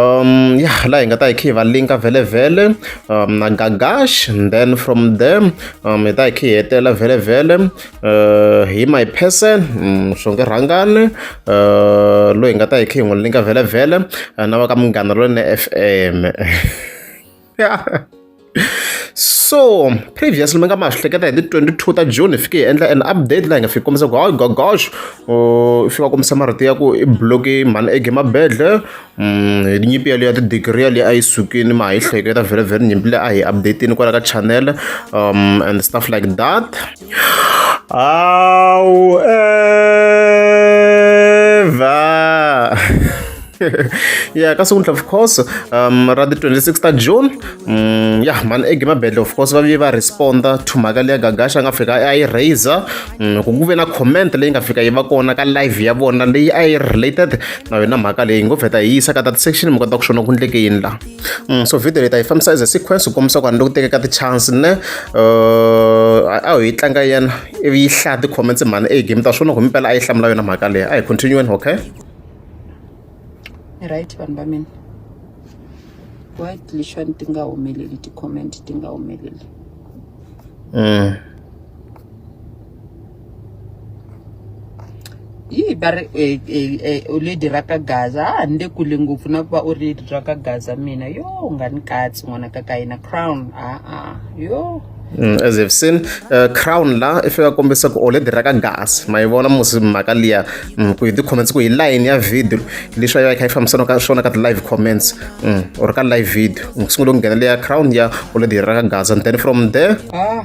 um ya laha hi nga ta hi kha hi va linka vhelevhele um na gagash and then from there um hi ta hi kha hi hetelela vhelevhele uh, hi my person mm, swo nge rhangane uh, loyi hi nga ta hi kha hi n'wi linka vhelevhele uh, na va ka munghana lone f m so previously mi nga ma swi hleketa hi ti 22 ta june hi fike hi endla an update laha hi nga fiki kombisa ku hayi gogosh i fika kombisa marito ya ku i bloki mhani ege mabedle mm, hi nyimpi yaleyo ya tidigiri yaleyo a yi sukini ma ha yi hleketa vhele vhele nyimpi leyi a hi updatini kwala ka channel um and stuff like that Au Eva. yeah ka siku of course um ra the 26 ta june um ya mani egame bedle of course va vi va responda to mhaka leya gagasha a nga fika a yi raiser um mm, ku ku ve na comment leyi nga fika yi va kona ka live ya vona leyi a yi related na yona mhaka leyi ngo vheta hi yisa ka that section mi kota ku xona ku ndleke yini laha Mm, so video leyi ta yi fambisa as a sequence ku kombisa ku vanhu loko tekeka ti-chance ne uh, a ho yi tlanga yena ivi yi hlaya ti-comments mhani e game ta swona ku mpela a yi hlamula yona mhaka leyi a hi continueni okay right vanhu va mina why lexani ti nga humeleli ti-comment ti nga humeleli mm. yi va ri eh, eh, eh, u lady ra ka gaza a ni le kule ngopfu na ku va u ri lady ra ka gaza mina yo u nga ni katsi n'wana ka ka yina crown a-a yo Mm, as you've seen uh, crown la i fika kombisa ku oledi ra ka gas ma yi vona musi mhaka liya mm, ku hi ti-comments ku hi line ya video leswi a yi va yi kha yi fambisana ka swona ka ti-live comments mm, or ka live video ku sungule ku nghena leya crown ya oledi ra ka gas and then from there ah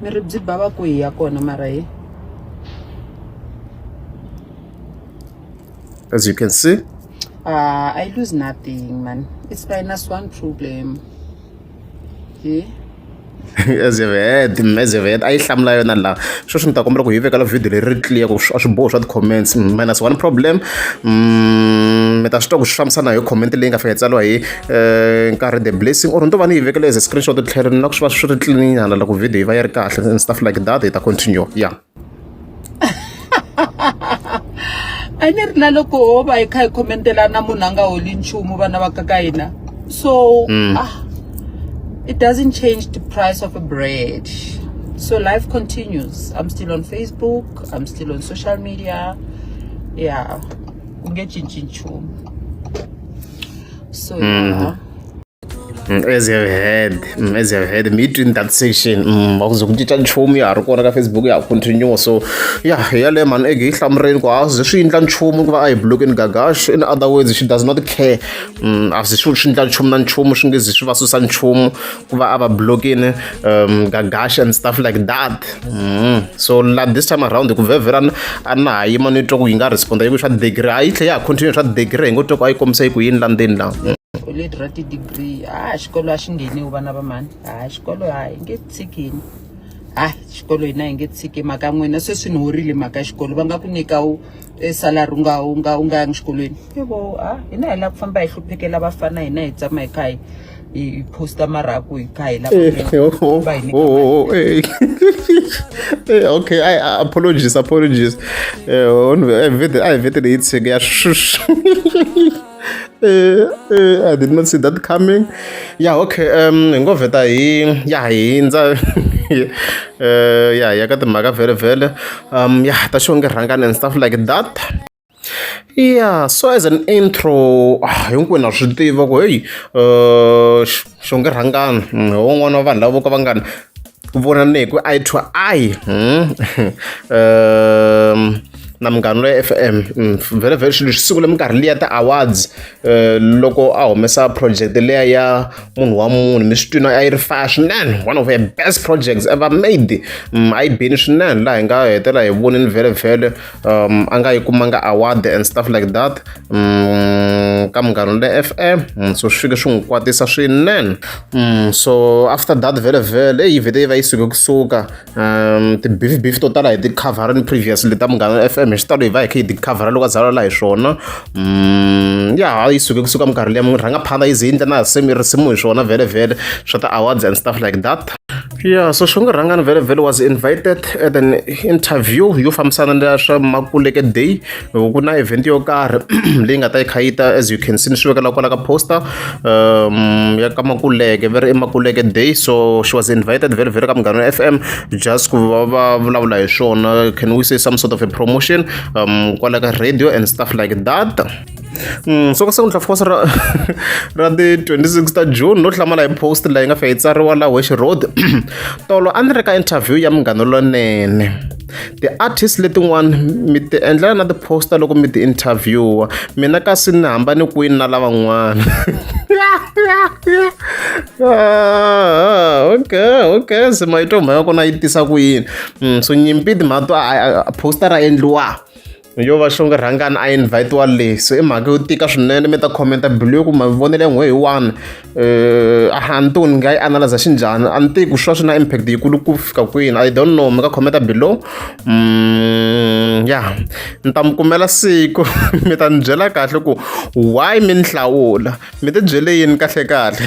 mi ri byi bava ku hi ya kona mara hi as you can see uh, i lose nothing man it's minus one problem he as you've heard as you've heard a yi hlamula yona laha sweswi ni ta kombela ku hi vekela video leri ri clear ku a swiboho swa ti-comments minus one problem mm, mi ta swi twa ku swi fambisana hi comment leyi nga fika hi tsariwa hi um nkarhi the blessing or ni to va ni yi vekele as a screenshot tlhelo ni lava swi va swi ri tlininyana loko video yi va yi ri kahle and stuff like that hi ta continue ya a ni ri na loko ho va hi kha hi khomentelana munhu a nga holi nchumu vana va ka ka hina so mm. ah, it doesn't change the price of a bread so life continues i'm still on facebook i'm still on social media yeah ku nge cinci nchumu So yeah. Mm, as you have heard mm, as you have heard meet in that section mm, vakuze kucita nchumu ya ha ri kona ka facebook ya ha continue so ya yaleyo mhani ege yi hlamureni ku a ze swi endla nchumu ku va a hi blockeni gagash in other words she does not care a ze swi swi endla nchumu na nchumu swi nge ze swi va susa nchumu ku va a va blokini um gagash and stuff like that mm. so la this time around ku vhevhera a na ha yima ni twa ku yi nga responda yi ku swa degree a yi tlhe ya ha continue swa degree hi ngo twa ku a yi kombisa yi ku yini la ndzeni la mm. leti ra ti-degree a xikolo a xi ngheniwi vana va mani a xikolo a hi nge tshikini a xikolo hina hi nge tshiki mhaka n'wina sweswi ni horile mhaka xikolo va nga ku nyika e salary u nga u nga u nga yangi xikolweni i vo a hina hi lava ku famba hi hluphekela vafana hina hi tshama hi kha hi hi hi posta marhaku hi kha hi lava Eh, ku- oh, oh, va hi nyika oh, mali. oh, eh. Eh, okay I, I- apologies apologies Eh, on- I vete- I vetele yi tshege ya shush uh, I did not see that coming. Yeah, okay. Um, hi ngo vheta hi ya hi hindza uh, ya ya ka timhaka vhele vhele um ya ta xonge rhangani and stuff like that yeah so as an intro ah, hinkwenu a swi tiva ku heyi um xonge rhangani hi mm, wun'wana wa vanhu lavo ka va ngani ku vona ni hi ku i to i hmm? um, na munghana loyi f m hmm, vhele vhele swilo swi sungule minkarhi liya ti-awards eh, loko a humesa project leya ya munhu wa munhu mi swi twina a yi ri faya swinene one of her best projects ever made hmm, a yi bini swinene laha hi nga hetela hi vonini vhele vhele um, a nga yi kumanga award and stuff like that um, ka munghana le fm um, so swi fike swi n'wi kwatisa swinene um, so after that vele vele eyi vhete yi va yi suke kusuka um, ti-beef beef to tala hi ti-coverini previous leta munghana le fm hi xitalo hi va hi kha hi ti-covera loko a zalala hi swona um, ya yi suke kusuka minkarhi leyi rhanga phanda yi ze yi ndla na risimu hi swona vele vele swa ti-awards and stuff like that ya so xingurhangani vhele vhele was invited at an interview yo fambisana na swa makuleke day ku na event yo karhi leyi nga ta yi kha yi ta as you can see ni swi vekela kwala ka poster um ya ka makuleke ve ri i makuleke day so she was invited vhele vhele ka munghana f m just ku va va vulavula hi swona can we say some sort of a promotion um kwala ka radio and stuff like that Mm, so ka siku ni tlhafokosi ra ra ti 26 ta june no hlamala hi post leyi nga fa yi tsariwa la wesh road tolo a ni ri ka interview ya munghana lonene ti-artist letin'wana mi ti endlela na ti-poster loko mi ti interviewa mina kasi ni hambani kwini na lavan'wana ah, okay okay se mayito mhaka kona yi tisa ku yini mm, so nyimpi timhaka to poster ra endliwa yo va xonge rhangani a invite-wa le so i mhaka yo tika swinene mi ta khomenta bilu yo ku mavonelo ya n'we hi one um a ni tiku ni nga yi analyza xi njhani a ni tivi ku swi va swi na impact yikulu ku fika kwini i don't know mi nga khomenta below um ya ni ta mi kumela siku mi ta ni byela kahle ku why mi ni hlawula mi ti byele yini kahlekahle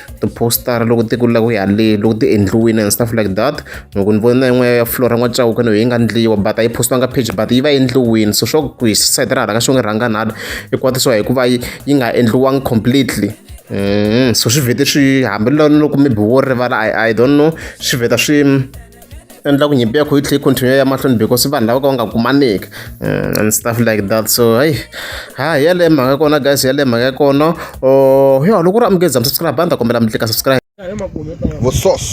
tipositara loko ti ku lava ku ya le loko ti endliwile and stuff like that loko ni vona yin'wana ya fulora n'wa cawuka no yi nga ndliwa but a yi postiwanga page but yi va endliwini so swo ku hi side ra hala ka swo nge rhanga nhala yi kwatisiwa hikuva yi yi nga endliwangi completely mm-hmm. so swi vhete swi hambi loko maybe wo rivala i don't know swi vheta swi endla ku nyimpi ya kho yi tlhe continue ya mahlweni because vanhu lava ka va nga kumaniki mm, and stuff like that so hayi ha yaleyo mhaka kona guys yaleyo mhaka kona oh, yo loko u ri amukeza msubscribe a ni ta kombela mi tlika subscribe vusos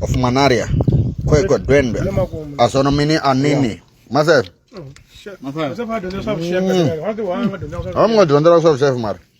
of manaria khoiko dwendwe asona mini anini masef mm. a mi nga dyondzela ku swa vuxefu mara